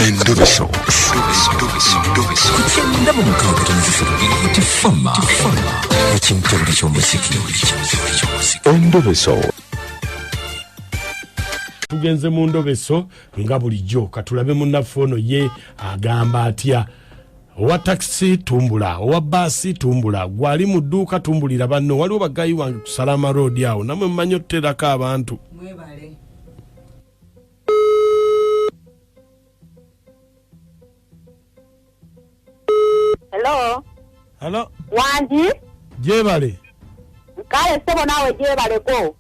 Endubiso. Kukyenda mu mukaaga tonazisolo nti fama ekimutabuli ky'omuziki endubiso tugenze mu ndobeso nga bulijjo katulabe munnaffe ono ye agamba atya owa takisi tumbula owa baasi tumbula gwali mu dduuka tumbulira banno waliwo bagayi wange kusala amaroodi awo namwe mumanyi otuterako abantu Hello. Hello. Wangi. Jebale. Kale sebo nawe jebale ko.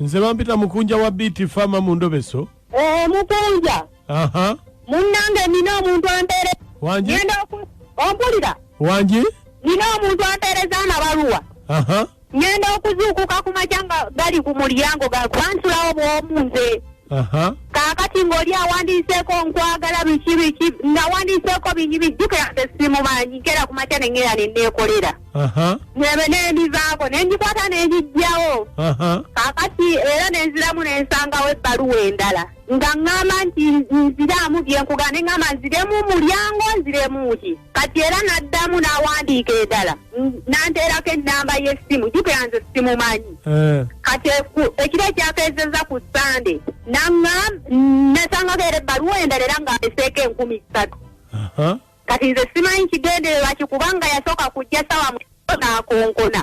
Nze bampita mukunja wa BT Farmer mu ndobeso. Eh mukunja. aha munnange nina omuntu ampeere wangi ngenda oku- ompulira wangi nina omuntu ampeereza amabaluwa aha ngenda okuzuukuka ku makya nga gali ku mulyango ga- bansulawo bwomu nze aha kaakati ng'oli awandiiseeko nkwagala biki biki nawandiiseeko bingi bijjukira nze simumanyi nkera ku makya nengera ne neekolera aha nebe nendivaako ne ngikwata ne ngijjawo aha kaakati era ne nziramu ne nsangawo ebbaluwa endala nga ŋŋamba nti nziraamu bye nkugaa ne ŋŋamba nziremu mulyango nziremu ki kati era n'addamu n'awandiika edala n'anteerako ennamba y'essimu jukira nze simumanyi eh. kati ekiro ekyakeezeza ku sande nasangako era ebbaluwa endala era ng'ameseeko enkumi ssatu kati nze simanyi kigendererwa ki kubanga yasooka kujja sawa mu naakonkona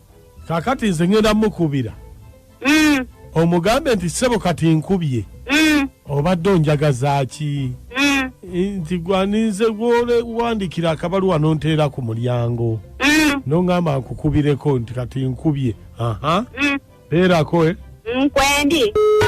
kakati nze ngenda mukubira mm. omugambe nti sebo kati nkubye mm. obadde onjagazaki mm. nti gwaninze gwole wandikira akabaluwa nonteera ku mulyango mm. nongamba nkukubireko nti kati nkubye aha mm. beerako eh? nkwendi mm,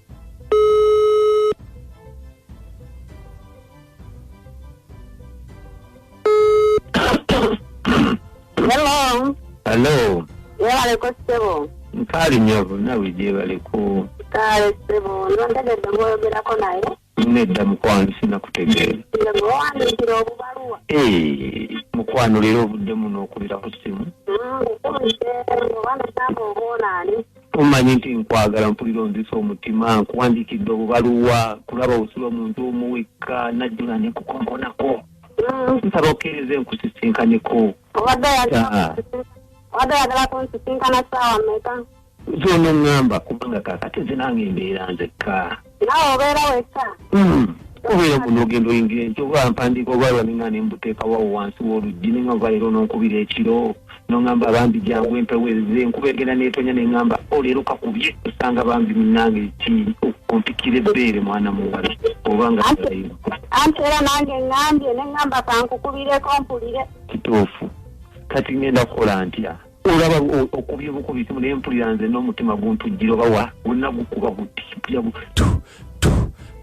Hello. Hello. Yebale ko ssebo. Mpaali nnyo bonna bwe gyebale ku. Kale ssebo, nze ntegedde ng'oyogerako naye. Nedda mukwano sinakutegeera. Nze gwe wawandiikira obubaluwa. Ee, mukwano leero obuddemu n'okubira ku ssimu. Nkukumise, oba nasamba oba onaani. Tomanyi nti nkwagala mpulira onzisa omutima nkuwandiikidde obubaluwa kulaba osula omuntu omu wekka najjula ne kukonkonako nsaba okkirize nkusisinkaneko obadde oyagala kunsisinkana saawa meka zono ŋŋamba kubanga kakati zinange embeera nzekka naawe obeera weka hmm. kubeera kuno ogenda oyingira enkyo oba mpandiika oba lwanina ne mbuteeka wawo wansi w'oluggi ne nga nvaera ononkubira ekiro nongamba bambi jangu empewo eze enkuba egenda netonya ne ngamba oleero oh, kakubye osanga bambi munange ki okumpikira ebbeere mwana muwala oba nga anti era nange ngambye ne ngamba kankukubireko mpulire kituufu kati ngenda kukola ntya olaba okubye bukubi simu naye mpulira nze n'omutima guntujjira oba wa gonna gukuba guti mpulira gu tu tu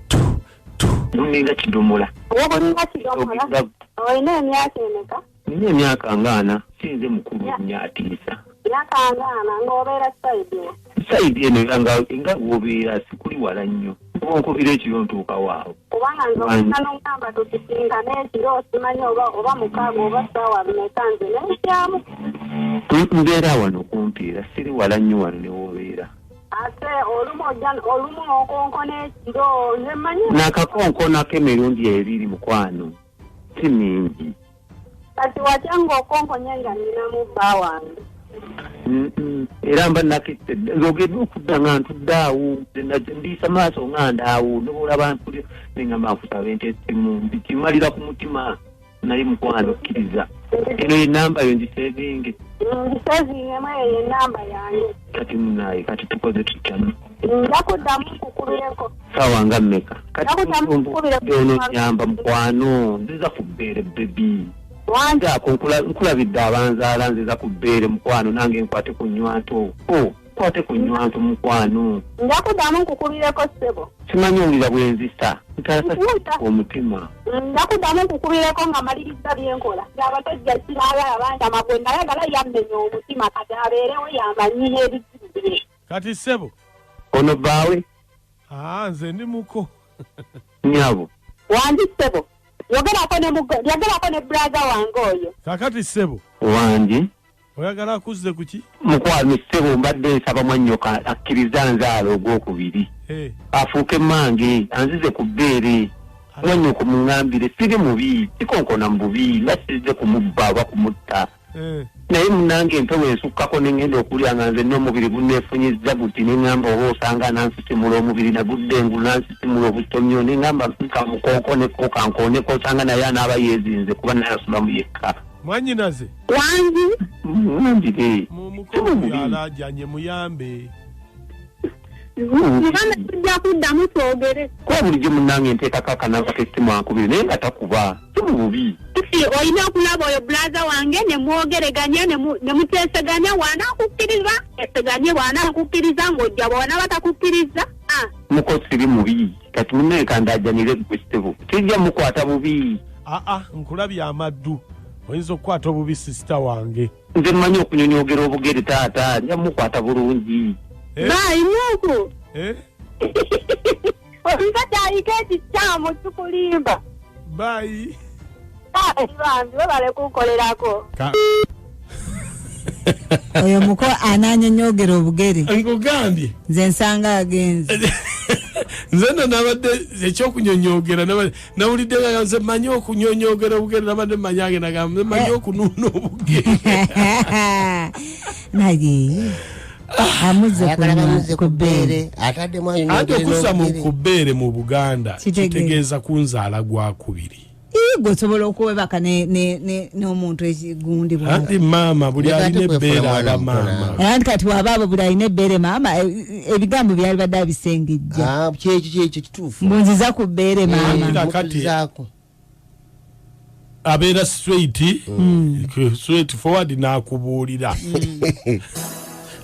tu tu guninga kidomola oguninga kidomola olina emyaka emeka nina emyaka ngaana sinze mukulu nnyo atiisa emyaka ngaana ng'obeera saidi Sayidi eno era nga bw'obeera sikuli wala nnyo oba onkubira ekiro ntuukawo awo kubanga nze omwana n'omugamba tusisinkane ekiro simanyi oba oba mukaaga oba ssaawa bimeka nze nenkyamu mbeera wano kumpi era siri wala nnyo wano ne w'obeera ate olumu ojja olumu okonkona ekiro nze mmanyi nakakonkonako emirundi ebiri mukwano si mingi kati watya ng'okonkonye nga ninamu bba wange era mba nakette zogedde okudda nga ntudde awo ndiisa maaso nga ndaawo nobola bantu nengamba nkusaba entesimu ndikimalira ku mutima naye mukwano okkiriza eno yenamba yo ngisevinge ngisevinge mweyo yenamba yange kati munaye kati tukoze tutya sawa nga mmeka kationo nyamba mukwano nziza ku bbeere bebi wange ako nkulabidde abanzaala nziza ku bbeere mukwano nange nkwate ku nywanto oh. kwate ku nywanto mukwano njakudamu nkukubireko ssebo simanyi owulira bwenzi sa ntaasa omutima njakudamu nkukubireko nga maliriza byenkola abasajja sinaagala banjama gwe nayagala yammenya omutima kati abeerewo yamanyi n'ebizibu bye kati ssebo ono bbaawe aa nze ndi muko nyabo wandi ssebo yogerako ne mugo yogerako ne brother wange oyo kakati ssebo wangi oyagala akuzze ku ki mukwano ssebo mbadde nsaba mwannyoka akkiriza nzaala ogwokubiri Eh, afuuke mange anzize ku bbeere mwanyoko muŋambire siri mubi sikonkona mu bubi nga siridde kumubba oba kumutta Eh. naye munange empewo ensukkako nengenda okulya nga nze nomubiri gunefunyizza guti nengamba oba osanga nansisimula omubiri nagudde ngu nansisimula obutomyo nengamba nka mukooko nekokankoneko osanga naye anaaba yezinze kuba naye asulamu yekka mwanyinaze wangi mwambire mumukoalajanye muyambe muganda tujja kuddamu twogere kuba bulijjo munange nteekako akanamba kesimu ankubire naye nga takuba si mu bubi si olina okulaba oyo bulaza wange ne mwogereganya ne mu- ne muteeseganya waanakukkiriza eseganye waanakukkiriza ng'ojja bwona batakukkiriza Ah, muko siri mubi kati munaye kandajanire gwe kitebo tijja mukwata bubi aa nkulabye amaddu oyinza okukwata obubi sisita wange nze mmanyi okunyonyogera obugere taata nja mukwata bulungi Eh? baayi nuuku Eh? omusajja ayika ekikyamu kikulimba bayi baayi bambi webale kunkolerako Ka- oyo muko ananyonyogera obugere nkugambye nze nsanga agenze nze no nabadde ekyokunyonyogera nabadde nawulidde nga nze manyi okunyonyogera obugere nabadde manyi agenda gamba manyi eh. okunuuna obugere naye anti okuza ku bbeere mu buganda kitegeeza kunzaala gwakubiri gwe osobola okuwebaka n'omuntu ekigundi anti maama buli alina ebbeere aba maama anti kati waba abo buli alina ebbeere maama e- e- ebigambo byalibadde abisengejja ah, mbunziza ku bbeere maamaakatizaako abeera straight mm. straight forward n'akubuulira mm.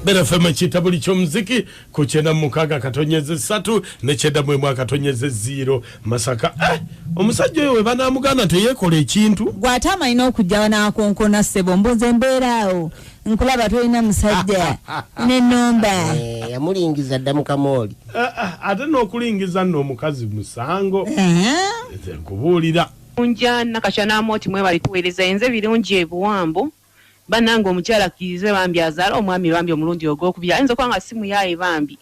bera fema kita buli kyomuziki ku kyenda mukaaga katonyeze satu ne kyenda mwemu akatonyeze ziiro masaka eh, omusajja oyo webanamuganda teyekola ekintu gwate amalina okujjawa nakonkona sebo mbuze mbeeraawo nkulaba tolina musajja nenomba eh, yamulingiza dda mukamooli eh, eh, ate n'okulingiza nno omukazi musango uh-huh. nkubuulira unja nakakya n'amooti mwebali tuweereza enze birungi ebiwambo banange omukyala akkirize bambi azaala omwami bambi omulundi ogwokubiri ayinza okuba nga si muyaaye bambi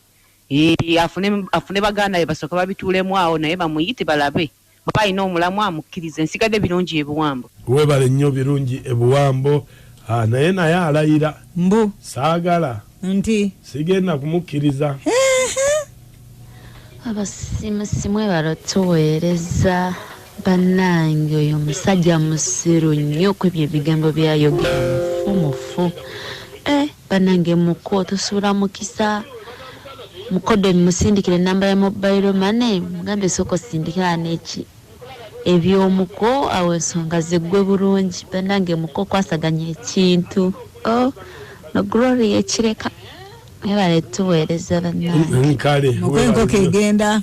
afune baganda be basooka babituulemu awo naye bamuyite balabe Oba alina omulamwa mukkirize. Nsigadde Birungi e Buwambo. Weebale nnyo Birungi e Buwambo. Haa naye naye alayira. Mbu. Saagala. Nti. Sigenda kumukkiriza. Abasimusi mwebale otuweereza bannange oyo omusajja musiru nnyo kwebyo ebigambo byayogera mufu mufu eh. Banange muko tosula mukisa. Mukoddomi musindikire number ya mobile money mugambe sooka osindikira neki ebyomuko awo ensonga ziggwe bulungi banange muko kwasaganya ekintu oh, no glory ekireka ebale tuweereza banange kale muko enkoko egenda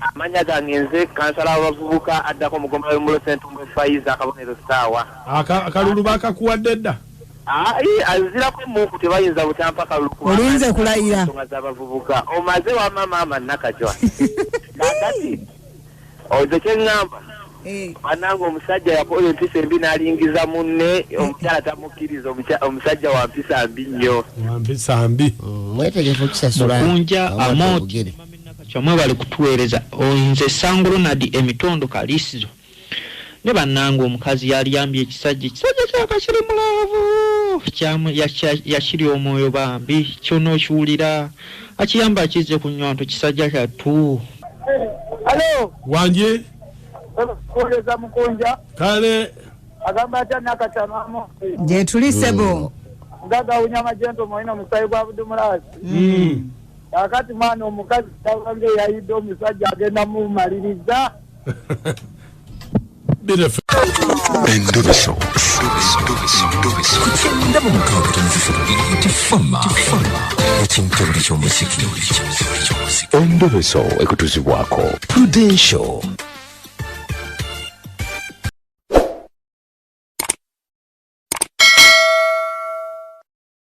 Amanya gange nze kansala w'abavubuka addako mu ggombolola y'omulo Ssentumbwe Faiza akabonero ssaawa. Aka akalulu baakakuwadde dda? Ayi azirako emmunku tebayinza butampa kalulu kuba Olinze kulayira. ensonga z'abavubuka omaze wamma maama Nakajwa kakati oze kye ŋŋamba bannange omusajja yakola empisa embi n'alingiza munne omukyala tamukkiriza omukya- omusajja wa mpisa mbi nnyo Wampisa mbi. Mwetegefu okusasula Mukunja amount. Nakacwa mwebale kutuwereza nze sango Ronald emitondo kalisizo ne banange omukazi yaliyambye ekisajja ekisajja kyaka kiri mulaavu kyamu yakiri omwoyo bambi kyona okiwulira akiyamba akizze ku nywanto kisajja kyattu Hello. Wanje. Kuweza mukunja. Kale. Agamba atya nakata mama. Je tuli sebo. Mm. Gaga unyama jento moina musayi kwa abudumulazi. Mm. kakati mwana omukazi tawange yayidde omusajja agenda mumaliriza endubiso ndaba mukaaga tumufufu bubiri nti fama ekintabuli ky'omuziki endubiso ekutuzibwako prudential